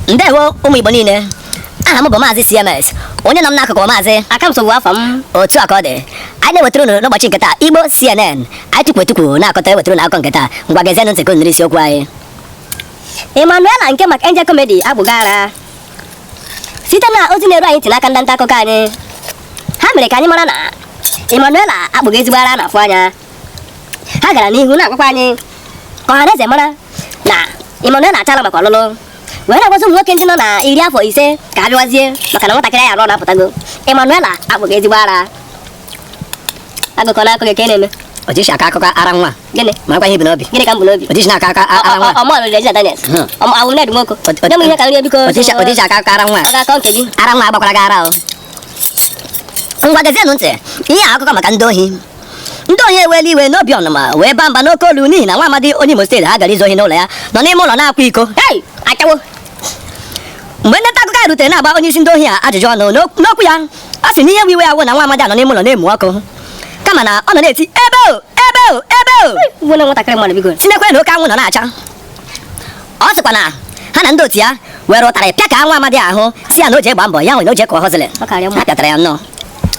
ndewo ụmụ igbo niile aha m bụ maazị cms onye nọ m n'akụkụ maazị aka m sogbu afọ m otu a ka ọ dị anyị na-ewetara unu n'ụbọchị nke taa igbo cnn anyị tukwu etukwu na-akọta ewetara unu akụkọ nke taa ngwa gezienụ ntị ka unu nụrụ isiokwu anyị Emmanuela nke Mark Angel Comedy akpụgo ara site na ozi na-eru anyị ntị n'aka ndị nta akụkọ anyị ha mere ka anyị mara na Emmanuela akpụgo ezigbo ara a na-afụ anya ha gara n'ihu na-agwakwa anyị ka ọha na eze mara na Emmanuela achala maka ọlụlụ wee na-agwazi ụmụ nwoke ndị nọ na iri afọ ise ka ha bịawazie maka na nwatakịrị ya nọ na-apụtago Emmanuela akpụgo ezigbo ara akụkọ na-akọ gị ka ị na-eme ojishi akọ akụkọ ara nwa gịnị marakwa ihe i bu n'obi gịnị ka m bu n'obi ojishi na-aka akọ ara nwa ọ mụ lụlụ Regina Daniel Hmm. ọ mụa wụ Ned Nwoko Ot- ot- nye m ihe ka m rie biko ojishi ojishi akọ akụkọ ara nwa ọ ga-akọ nke gị ara nwa agbakwara gị ara o ngwa gezienụ ntị ihe a akụkọ maka ndị ohi ndị ohi ewela iwe n'obi ọnụma wee baa mba n'oke olu n'ihi na nwa amadi onye Imo steeti ha gara izu ohi n'ụlọ ya nọ n'ime ụlọ na-akwa iko ashawo mgbe ndị nta akụkọ anyị rutere na-agba onye isi ndị ohi a ajụjụ ọnụ n'okwu ya ọ sị na ihe iwe ya wụ na nwa amadi a nọ n'ime ụlọ na-emu ọkụ kama na ọ nọ na-eti ebe o ebe o ebe o tinekwe na oke anwụ nọ na-acha ọ sịkwa na ha na ndị otu ya were ụtarị pịaka nwa amadi ahụ sị ya na o ji agba mbọ ya nwere na o ji ekọ hozili ha pịatara ya nnọọ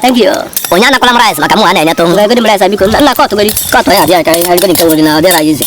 Thank you. Onye anakwala m rice maka mụa na-enyeta ụmụ. Ngagodi m rice biko nna kọtụ godi. Kọtụ ya abịa ka ngagodi nke nwere na ọ dịrọ easy.